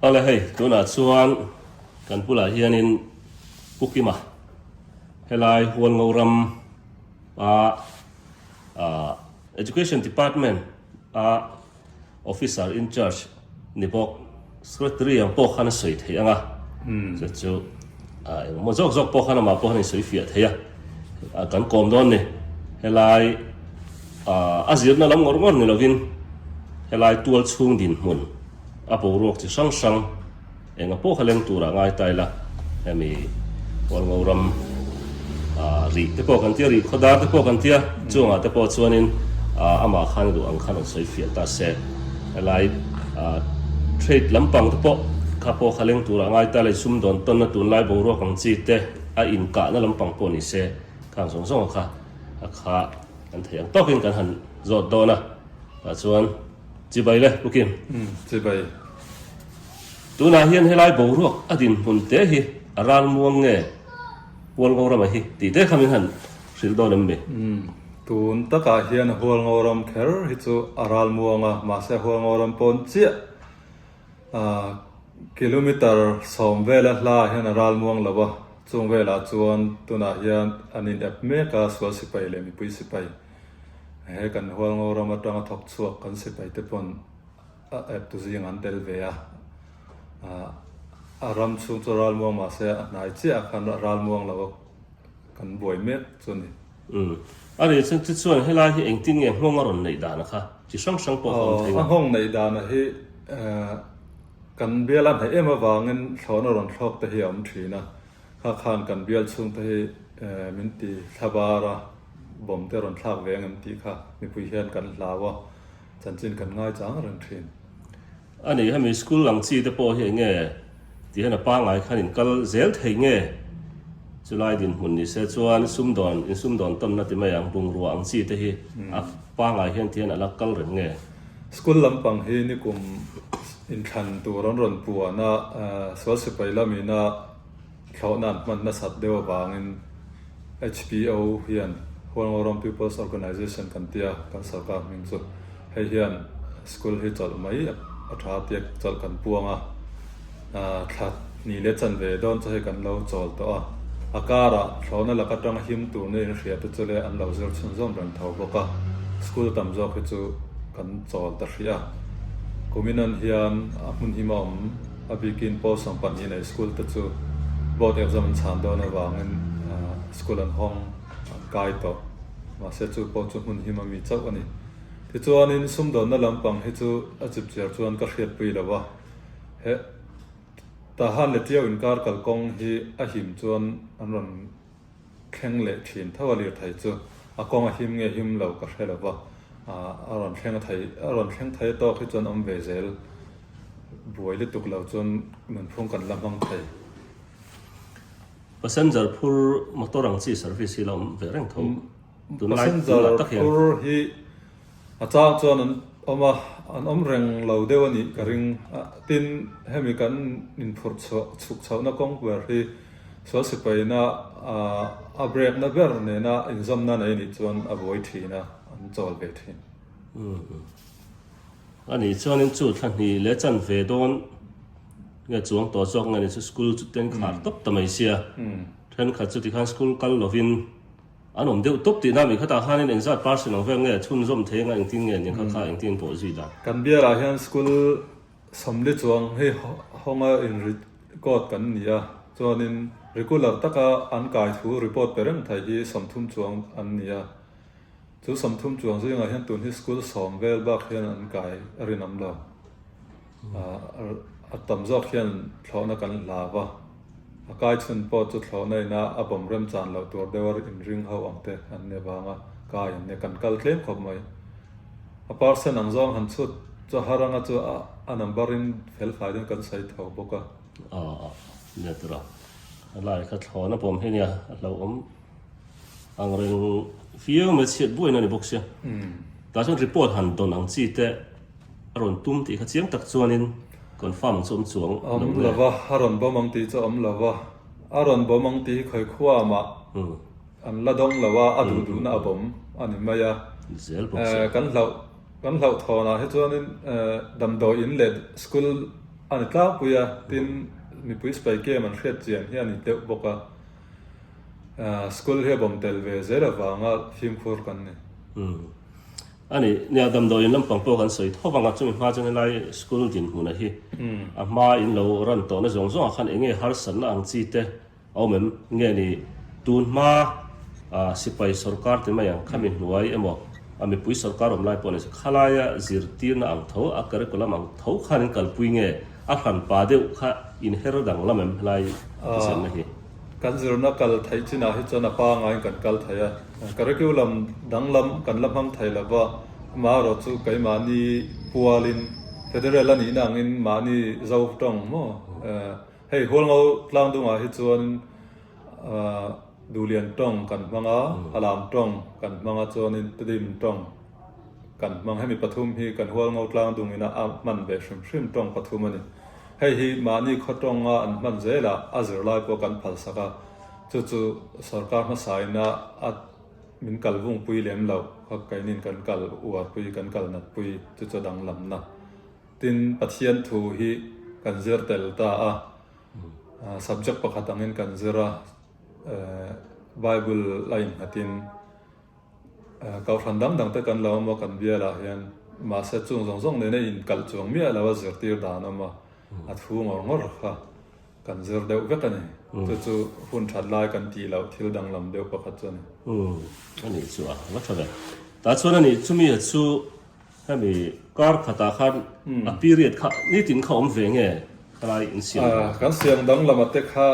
Hale hei, tunah chuan kan bulah hianin Pu Kima helai Huan Ngo ram a Education Department a Officer in charge, Ni bawk, Secretary ang pawh khan a sawi theih ang a, chu chu engmaw zawk zawk pawh khan amah pawh khan a insawi fiah theih a, kan kawm dawn ni, helai a zirna lam ngawr ngawr ni lovin helai tual chhung dinhmun a boruak chi hrang hrang, Engah pawh kha leng tura ngai ta ila hemi Kawlngo ram ah rih te pawh kan tia, rih khaw dar te pawh kan tia, chuangah te pawh chuanin ah amah khan ruh ang kha rawn sawi fiah ta se. Helai ah trade lampang te pawh kha pawh kha leng tura ngai ta ila i sum dawn tawnna tunlai boruak ang chi te, a inkahna lampang pawh ni se khang zawng zawng kha a kha kan thei ang tawkin kan han zawt dawn a. Tah chuan Chibai le Pukim. Chibai. Tunah hian helai boruak a dinhmun te hi a ral muang nge Hualngo rama hi tih te khamin han hrilh dawn em ni? Umm, tun takah hian Hualngo ram kher hi chu a ral muang a, mahse Hualngo ram pawn chiah ah kilometer sawm vela hlaiah hian a ral muang lo a, chung velah chuan tunah hian an inep mek a sual sipai leh mipui sipai, he kan Hualngo ram atanga thawk chhuak kan sipai te pawn, A eptu zing an tel ve a. A ram chhung chu a ral muang mah se a hnai chiah khan a ral muang lo a, kan buai mek chu ni. Umm. A nih chu chu chuan helai hi engtin nge nghawng a rawn neih dan a kha? Chi hrang hrang pawh ka awm thei lo. A nghawng neih dan a hi kan bial a hnaih em avangin thlawhna a rawn thlawk te hi a awm thin a. Kha khan kan bial chhung te hi min ti thla bar a, bawmte a rawn thlak ve ang em tih kha mipui hian kan hlau a. Chanchin kan ngai chang reng thin. A nih hemi school lang chi te pawh hi eng nge? Tih hian a pangai khan in kal zel thei nge? Chu lai dinhmun ni se chuan sum dawn in sum dawn tawnna ti mai ang bungrua ang chi te hi a pangai hian tih hian a la kal reng nge? School lampang hi nikum inthlan tur an rawn puan a, Sualsipai lam ina. Thlawhna an hman nasat deuh avangin HPO hian Hual Ngawram People's Organisation kan ti a, kan sarkar hming chu. Hei hian school hi chawlh mai a tha tia chawlh kan puang a. Thla hnih leh chan ve dawn chu hei kan lo chawl tawh a. A karah thlawhna lak atanga him turna inhria te chu le an lo zir chhun zawm reng tho bawk a. School a tam zawk hi chu kan chawl ta hrih a. Kuminan hian a hmun him a awm. A bikin pawh sawm pahnih nei school te chu board exam an chhan dawn avangin school an hawng an kai tawh. Mahse chu pawh chu hmun him a mi chauh a ni. Tichuanin sumdawnna lampang hi chu a chipchiar chuan ka hriatpui lo a, heh, Tahan leh Tio inkar kalkawng hi a him chuan an rawn. thleng leh thin tho a lir thei chu a kawng a him nge him lo ka hre lo va, a rawn thleng a thei a rawn thleng thei tawk hi chuan awm ve zel buai lutuk lo chuan nunphung kan la hmang thei. Passenger phur motor ang chi service hi la awm ve reng tho, tunlai tunlai tak hian. Passenger phur hi. A chang chuan an awm a, an awm reng lo deuh a nih ka ring. Tin, hemi kan inphurh chhuk chhohna kawng ber hi Sual Sipaina a brekna ber nena inzawmna nei nih chuan a vawi thin a, an chawl ve thin. A nih chuanin chu thla hnih leh chan ve dawn nge chuang tawh zawk nge ni chu school chu tenkhar tawp ta mai sia. Thenkhat chu tikhan school kal lovin. An awm deuh tawp tihna mi khatah khanin eng zat par sin ang vek nge, chhunzawm thei anga engtin nge ni kha kha engtin pawh zui dan. Kan biala hian school sawmli chuang hi hawnga inrit kawt kan ni a, chuanin regular taka an kai thu report pe reng thei hi sawmthum chuang an ni a. Chu sawmthum chuang zingah hian tun hi school sawm vel bak hian an kai rinawm lo. A tam zawk hian thlawhna kan hla va, a kai chhun pawh chu thlawhna ina a bawm rem chan loh tur deuh a in ring ho ang te an ni avang a, kai an nia, kan kal tlem khawp mai. A parcel ang zawng han chhut chuan Haranga chu a number in fel fai dawn kan sawi tho bawk a. Aa, nia tura, a lai kha thlawhna bawm hi nia a hlauhawm Ang reng viau mai chhiat buain a ni bawk sia. Tah chuan report han dawn ang chi te a rawn tum tih kha chiang tak chuanin confirm ang chu awm chuang lo nge? Awm lo va, a rawn bawm ang tih chu awm lo va. A rawn bawm ang tih hi Khawikhuwa amah an la dawng lo a, a duh duhna a bawm a ni mai a. Kan hlauh, kan hlauh thawnah hi chuanin damdawi in leh school a ni tlakpui a, tin mipui spy cam an hriat chian hi a ni deuh bawk a. School hi a bawm tel ve zel avanga fimkhur kan ni. A ni, nia damdawi in lampang pawh kan sawi tho vang a, chumi hma chuan helai school dinhmuna hi a hma in lo ran tawhna zawng zawng ah khan eng nge harsatna ang chi te a awm em? Nge ni tun hma sipai sorkar te mai ang kha mi hnuai emaw a mipui sorkar awm lai pawh ni se khalai a zirtirna ang tho a curriculum ang tho khan in kalpui nge A hran pa deuh kha in her dang lam em helai a thisen a hi. Kan zirna kal theih chin ah hi chuan a pa ngaiin kan kal thei a. Curriculum dang lam kan la hmang thei lo va, mah erawh chu keimahni pual in Federal a nihna ang in mahni zo tawng maw hei hual ngo tlang dung ah hi chuan duhlian tawng kan hmang a, halam tawng kan hmang a chuan in tudim tawng Kan hmang hemi pathum hi kan hual ngo tlang dung in a hman ve hrim hrim tawng pathum a ni. Hei hi mahni khaw tawng a an hman zel a, a zir lai pawh kan phal sak a, chu chu sorkar hmasa in a a min kal vung pui lem lo, khaw kei nin kan kal uar pui, kan kal nat pui, chu chu danglam na. Tin, Pathian thu hi kan zir tel ta a, subject pakhat ang in kan zir a, Bible a innghat in. Kohhran dang dang te kan lo awm a, kan bial ah hian mahse chung zawng zawng nena in kalh chuang miah lo a zirtir dan awm a, a thu ngawr ngawr kha kan zir deuh vek a ni. Chu chu hun that lai kan tih loh thil danglam deuh pakhat chu a ni. Anih chuah, va tha ve. Tah chuan a nih chu mi ah chu. Hemi kar khatah khan a period kha nitin kha awm ve nge helai in siam dawn a. Kan siam dang lama te kha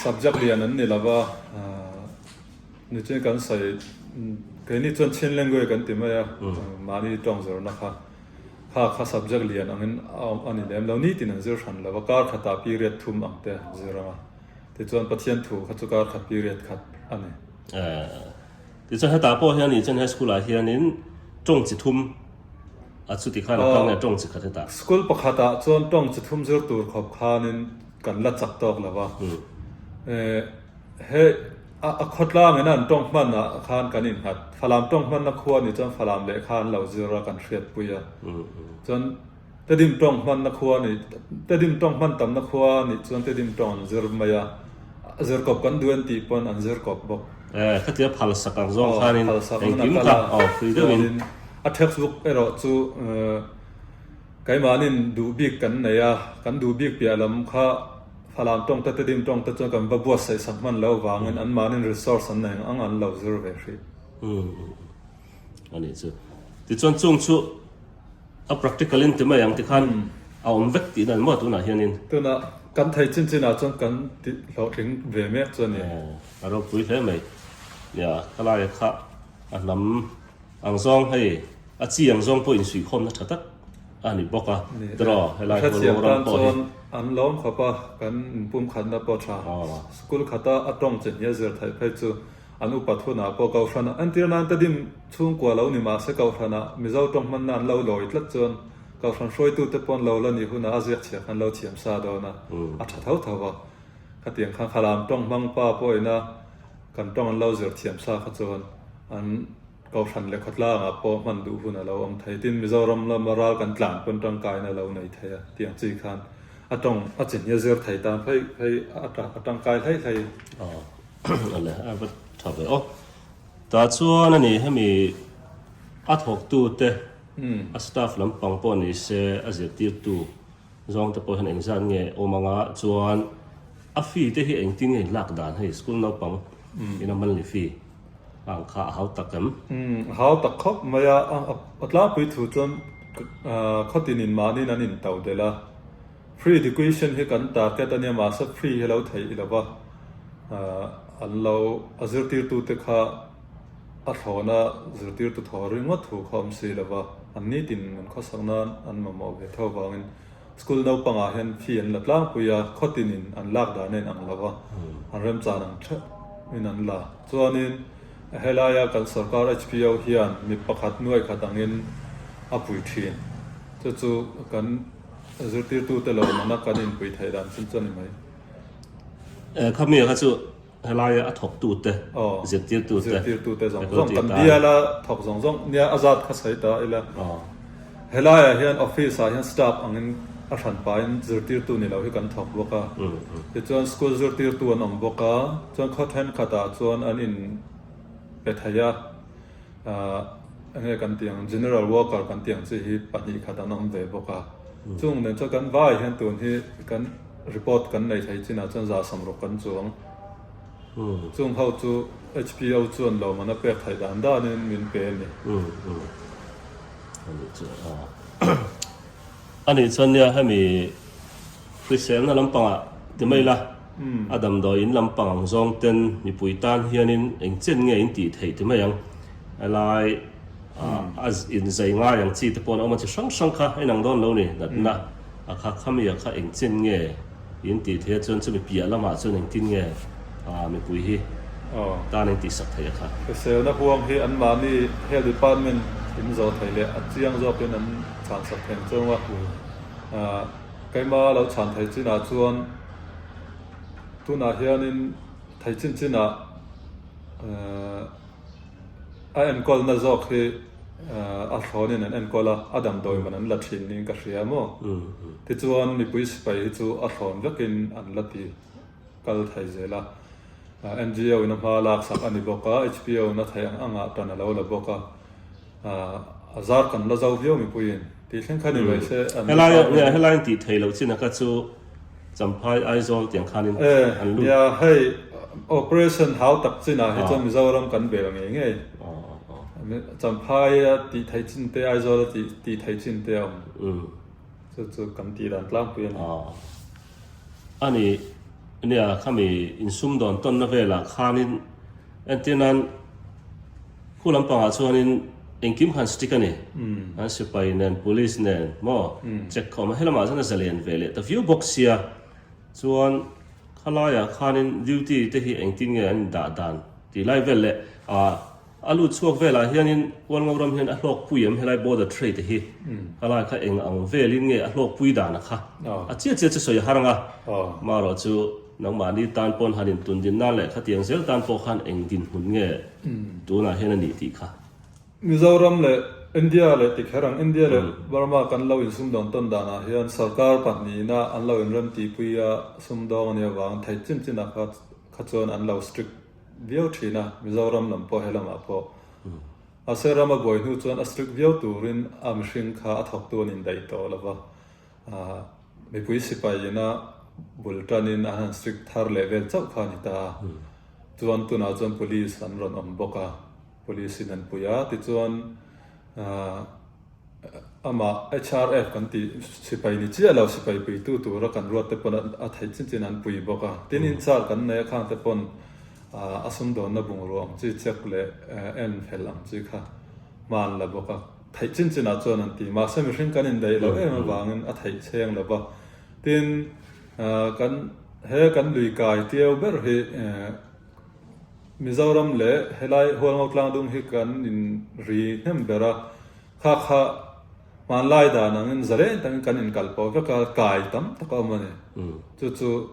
subject lian an ni lova, nitin kan sawi keini chuan Chin language kan ti mai a, mahni tawng zawrhna kha kha kha subject lian angin a awm a ni lem lo, nitin an zir hran lova, kar khatah period thum ang te an zir anga tichuan Pathian thu kha chu kar khat period khat a ni. Tichuan hetah pawh hian Yichen High School ah hianin tawng chi thum a chuti khan a kal nge tawng chi khat hetah. School pakhat ah chuan tawng chi thum zir tur khawp khanin kan la chak tawk lo va. Hei a khawtlang in a an tawng hman ah khan kan innghat. Falam tawng hmanna khua ni chuan Falam leh kha an lo zir a kan hriatpui a. Chuan. Tedim tawng hmanna khua nih, Tedim tawng hman tamna khua nih chuan Tedim tawng an zir mai a, a zir kawp kan duh en tih pawn an zir kawp bawk. Eh, khatiang phal sak ang zawng khan in engkim ka awh fri deuh in. Chuanin a text book erawh chu keimanin duh bik kan nei a, kan duh bik piah lam kha Falam tawng te Tedim tawng te chuan kan va buatsaih sak hman loh avangin an mahni resource an nei ang an lo zir ve hrih. Anih chu. Tichuan chung chu. A practical in ti mai ang ti khan a awm vek tihna emaw tunah hianin. Tunah kan thei chin chinah chuan kan ti hlawhtling ve mek chu a ni. Aw, a ropui hle mai nia. Ka laia kha a hnam ang zawng hei, a chi ang zawng pawh insuihkhawmna tha tak a ni bawk a. Tiraw, helai khaw rawng rawng pawh hi. Ka hrethiam tan chuan an lawm khawp a, kan inpumkhatna pawh tha. School khata a tawng che hnial zir thai phei chu. An upa thunah pawh Kohhran ah entir nan ka dim chhungkua lo ni mahse Kohhran ah Mizo tawng hmanna an lo lawi tlat chuan Kohhran hruaitute paw'n lo la ni hunah a ziak chhiah khan lo thiam sa dawn a, a tha tho tho a. Khatiang khan Khalam tawng hmang pa pawhin a kan tawng an lo zir thiam sa kha chuan an. Kohhran leh khawtlakah pawh hman duh hun a lo awm thei. Tin, Mizoram lama ral kan tlan pawn tangkaina a lo nei thei a tiang chi khan a tawng a chin hi a zir thei tan phaih phaih a, a tangkai hlei hlei. Aw, a a va tha ve aw. Tah chuan a nih hemi a thawktute a staff lampang pawh ni se a zirtirtu. Zawng te pawh hian eng zan nge awm anga chuan a fee te hi eng tin nge lak dan hei school naupang in a monthly fee ang kha a hau tak em? Umm a hau tak khawp mai a, a tlangpui thu chuan khaw ti nin mahni in an in tau del a, free education hi kan target a nia mahse free hi a lo theih i lo va, an lo a zirtir tu te kha. A thlawna zirtirtu thaw ringawt thu kha awm si lova, an nitin an khawsak nan an mamawh ve tho vangin school naupangah hian fee an la tlangpui a, khawtin in an lak dan a inang lova, an remchan ang theuhin an la. Chuanin a helaia kan sorkar HPO hian mi pakhat nuaih khat angin a pui thin, chu chu kan zirtirtute lawmna kan inpui theih dan chin chuan i mai. Khawmil kha chu. Helaia a thawk tu te, zirtir tu te. Zirtir tu te zawng zawng kan bial a, thawk zawng zawng nia a zat kha sawi ta ila. Helaiah hian office ah hian staff ang in a hran pa in zirtir tu ni lo hi kan thawk bawk a. Ti chuan school zirtir tu an awm bawk a, chuan khaw then khat ah chuan an in pe thei a. Enge kan tih ang, general worker kan tih ang chi hi pahnih khat an awm ve bawk a. Chung nen chuan kan vai hian tun hi kan report kan nei thei chinah chuan za sam rawh kan chuang. Chung ho chu HPO chuan lohmana pek theih dan dan in min pe a ni. Ani chuan nia hemi hriselna lampangah ti mai la. A damdawi in lampang ang zawng ten mipui tan hian in eng chen nge in tih theih ti mai ang. A lai a in zai ngai ang chi te pawh an awm a chi hrang hrang kha inang dawn lo ni natna a kha khami a kha eng chen nge in tih theih a chuan chumi piah lam ah chuan engtin nge mipui hi tan in tihsak theih a kha. Hriselna huang hi an mah ni health department in zawh theih leh a chiang zawk in an chhan sak theng chawng a. Keima lo chhan theih chin ah chuan. Tunah hianin thei chinchinah a enkawlna zawk hi a thlawnin an enkawl a, a dang dawihman an la thin niin ka hria maw? Tichuan mipui sipai hi chu a thlawn vekin an la ti kal thei zel a. NGO-in a hma laksak a ni bawk a, HPO-na thei ang angah tan a lo la bawk a. A zar kan la zo viau mipuiin tih thleng kha ni mai se an la fak viau. Helai an tih thei lo chin a ka chu Champhai, Aizawl tiang khanin an lut. Nia hei operation hau tak chin ah hi chuan Mizoram kan bel ngei ngei. Champhai a tih thei chin te Aizawl a tih thei chin te a awm. Chu chu kan tih dan tlang pui a ni. A ni nia khami insum dawn tawn na vel ah khanin entirnan. Khu lampangah chuanin engkim khan strict a ni. An sipai nen, police nen maw check kha awm a, helamah chuan a zalian ve leh ta viau bawk sia. Chuan khalaia khanin duty te hi engtin nge an indah dan tih lai vel leh a lut chhuak velah hianin Kualngo ram hian a hlawkpui em helai border tray te hi khalai kha eng ang velin nge a hlawkpui dan a kha a chiah chiah chu sawi a harang a, marawh chu. Nangmahni tan pawn han in tundin nan leh khatiang zel tan pawh khan eng dinhmun nge tunah hian a nih tih kha. Mizoram leh India leh tikher ang India leh Burma kan lo in sumdawn tawn danah hian sarkar pahnihna an lo in rem tihpui a sumdawng a nih avang thei chin chin ah kha chuan an lo strict viau thin a Mizoram lam pawh he lamah pawh mahse rama buai hnu chuan a strict viau turin a mihring kha a thawktu an in daih tawh lova. Mipui sipai ina bul tan in an han strict thar leh vel chauh kha a ni ta a. Chuan tunah chuan police an rawn awm bawk a, police in an pui a. Tichuan amah HRF kan tih sipai ni chiah lo sipai puitu tura kan ruat te pawn a theih chin chin an pui bawk a. Tin in char kan nei a khang te pawn a sum dawn na bungrua ang chi check leh en fel ang chi kha hman la bawk a. Theih chin chin ah chuan an ti. Mahse mihring kan in daih loh em avang in a theih chheng lo va. Tin, kan he kan lui kai tio ber hi Mizoram leh he lai Hualngo Tlangdung hi kan in ri hnem ber a, kha kha hmanlai dan ang in zareng tak in kan in kal poh vek a, kai tam tak a awm a ni. Chu chu.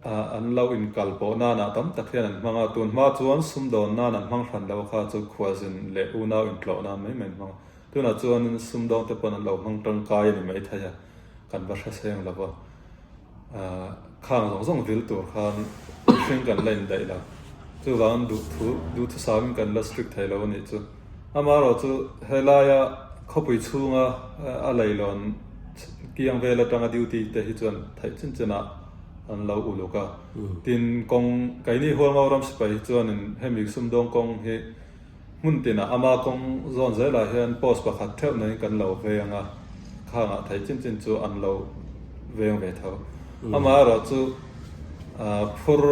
An lo inkal pawh nana tam tak hian an hmang a, tun hma chuan sumdawn nan an hmang hran loh kha chu khualzin leh unau intlawh nan mai mai an hmang a, tunah chuan sumdawn te pawn an lo hmang tangkai a ni maithei a, kan va hraseng lo va, khang zawng zawng vil tur khan mihring kan la indaih lo, chuvangin duhthu, duhthusauin kan la strict thei lo a nih chu. Amaherawh chu he laia khawpui chhunga a leilawn kiang vel atanga duty te hi chuan theih chin chinah an lo uluk a. Tin, kawng Kaini Hualngo ram sipai hi chuanin hemi Sumdawng kawng hi hmun tinah ama kawng zawn zelah hian post pakhat theuh naihin kan lo veng a khangah theih chin chin chu an lo veng ve tho. Amaherawh chu. Ahh phur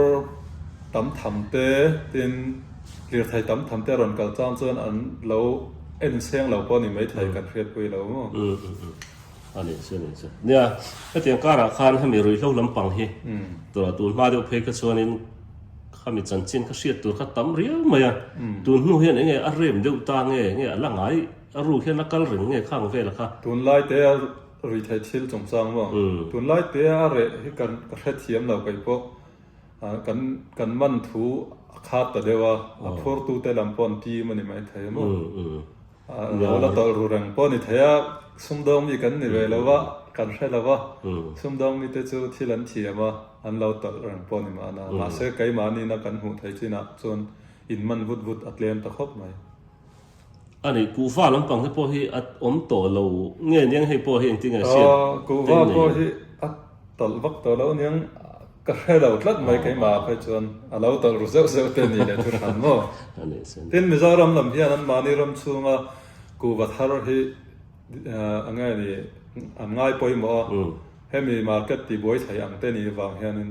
tam tham te tin lirthei tam tham te a rawn kal chang chuan an lo en seng lo pawh a ni mai thei kan hriatpui lo maw? Umm umm umm a ni chu a ni chu. Nia hetiang karah khan hemi ruihhlo lampang hi tura tun hma deuh phei kha chuanin khami chanchin kha hriat tur kha tam riau mai a. Tun hnu hian eng nge a rem deuh ta nge, enge a la ngai a ru hian a kal reng nge khang vela kha. Tunlai te a. Ri thei thil chungchang maw? Tunlai tia a reh hi ka hrethiam lo keipawh kan kan man thu a khat ta deuh a, a phurtute lam pawh an tim a ni mai thei a maw? Lo la tawlh ru reng pawh a ni thei a, sumdawng mi kan ni ve lo a, kan hre lo a, sumdawng mite chu thil an thiam a, an lo tawlh reng pawh a ni mahna, mahse keimah nina kan hmuh theih chinah chuan in man vut vut a tlem ta khawp mai. Ani, kuhva lampang te pawh hi a awm tawh lo nge niang? Hei pawh hi engtin nge siam teh nei? Kuhva pawh hi a tawlh vak tawh lo niang. Ka hre lo tlat mai keimah phei chuan a lo tawlh ru zeuh zeuh te ni leh thu hran maw? Tin, Mizoram lam hian an mahni ram chhunga kuhva thar hi a nge ni an ngai pawimawh a, hemi market tihbuai thlai ang te ni avang hianin,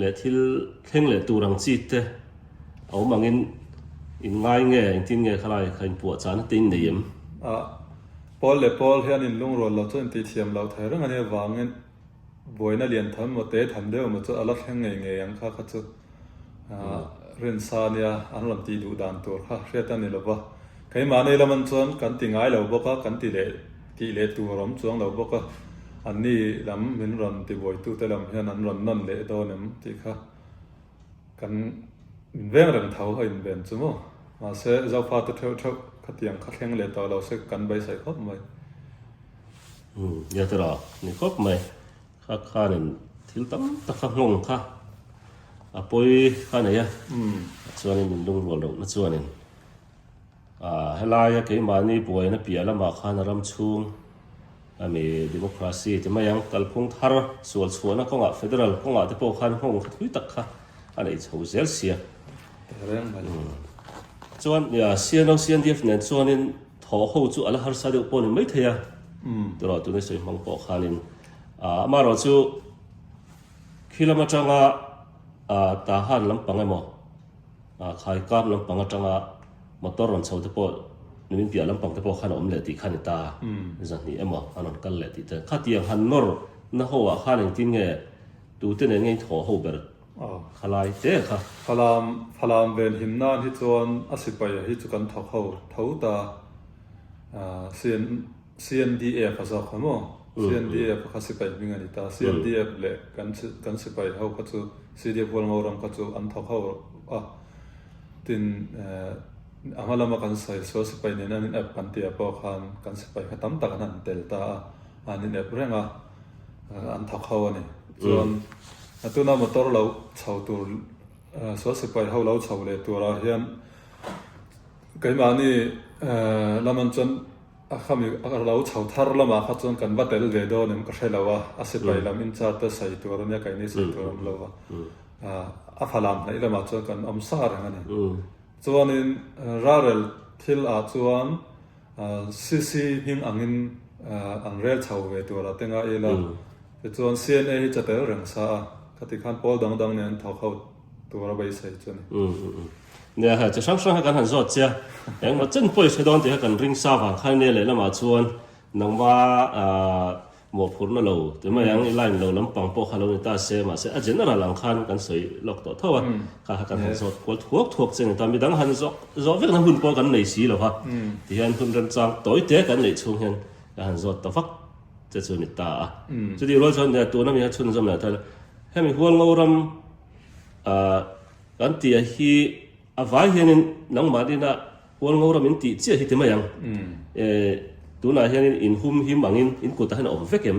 leh thil thleng leh tur ang chi te a awm angin in ngai nge in tin nge kha lai kha in puah chana te in nei em? A Paul leh Paul hian in lungrual lo chu in tih thiam loh thei reng ania vangin buaina lian tham emaw te tham deuh emaw chu a la thleng ngei ngei ang kha kha chu rinsa nia an rawn tih duh dan tur kha hriat a ni lova keimah nei laman chuan kan ti ngai lo bawk a kan ti leh Tih leh tur awm chuang lo bawk a, an ni lam min rawn ti buaitute lam hian an rawn nawn leh dawn em tih kha kan min veng reng tho a inben chu maw. Mahse, Zofate theuh theuh khatiang kha thleng leh tawh lo se kan beisai khawp mai. Umm, ia tera ni khawp mai kha khanin thil tam tak kha nghawng kha a pawi kha nei a, tichuanin min lungrual reuhna chuanin. Ahh helaia keimahni buaina piah lamah khan a ram chhung a ni. Democracy ti mai ang. Kalphung thar sual chhuahna kawngah federal kawngah te pawh khan nghawng thathui tak kha a nei chho zel sia. Chuan CNO, CNDF nen chuanin thaw ho chu a la harsa deuh pawh a ni maithei a. Turaw tuni sawi hmang pawh khanin amaherawh chu khi lam atanga tahan lampang emaw. A khai kap lampang atanga motor rawn chhote pawh numin piah lampang te pawh khan a awm leh tih khan i ta a, zahnih emaw an rawn kal leh tih te. Khatiang han nawr na ho ah khan engtin nge tute nen nge in thaw ho ber khalai te kha. Falam, Falam ven him nan hi chuan a sipaia hi chu kan thawk ho tho ta, CN. CNDF a zawk kha maw? CNDF a kha sipai hming a ni ta. CNDF leh kan kan sipai ho kha chu CDF Hualngo ram kha chu an thawk ho a. Tin a hma lama kan sawi sual sipai nen an inep kan tia pawh khan kan sipai kha tam tak an han tel ta a, an inep reng a, an thawk ho a ni. Chuan a tuna motor lo chho tur sual sipai ho lo chho leh turah hian keimahni lamah chuan A khami a lo chho thar lamah kha chuan kan va tel ve dawn em ka hre lo a, a sipai lam in chart te sawi tur ania kaih ni sawi tur awm lo a, a falam hnaih lamah chuan kan awm sah reng ani. Chuanin ralrel thil ah chuan CC hming ang in an rel chho ve tur a te ngai ila, tichuan CNA hi chatel reng sa a, khati khan pawl dang dang nen an thawk ho. Tura beisei chu ni. Umm umm umm. Nia hei, chi hrang hrang kha kan han zawt sia. Engmaw chen pawh i hre dawn tih kha kan ring sa vang khan nia lehlamah chuan nangma mawhphurhna lo ti mai ang i line lo lampang pawh kha lo ni ta se, mahse a general ang khan kan sawi lawk tawh tho a. Kha kha kan han zawt kual thuak thuak che a ni ta. Midang han zawh zawh vekna hun pawh kan nei si lo va, ti hian hun remchang tawi te kan neih chhung hian kan han zawt ta vak che chu a ni ta a. Chutih rual chuan tuna mi kha chhunzawm leh a tel. Hemi hual ngo ram ah kan ti a hi a vai hian in nangmah din a hual ngo ram in ti chiah hi ti mai ang eh tunah hian in in hum him ang in in kutah hian a awm vek em?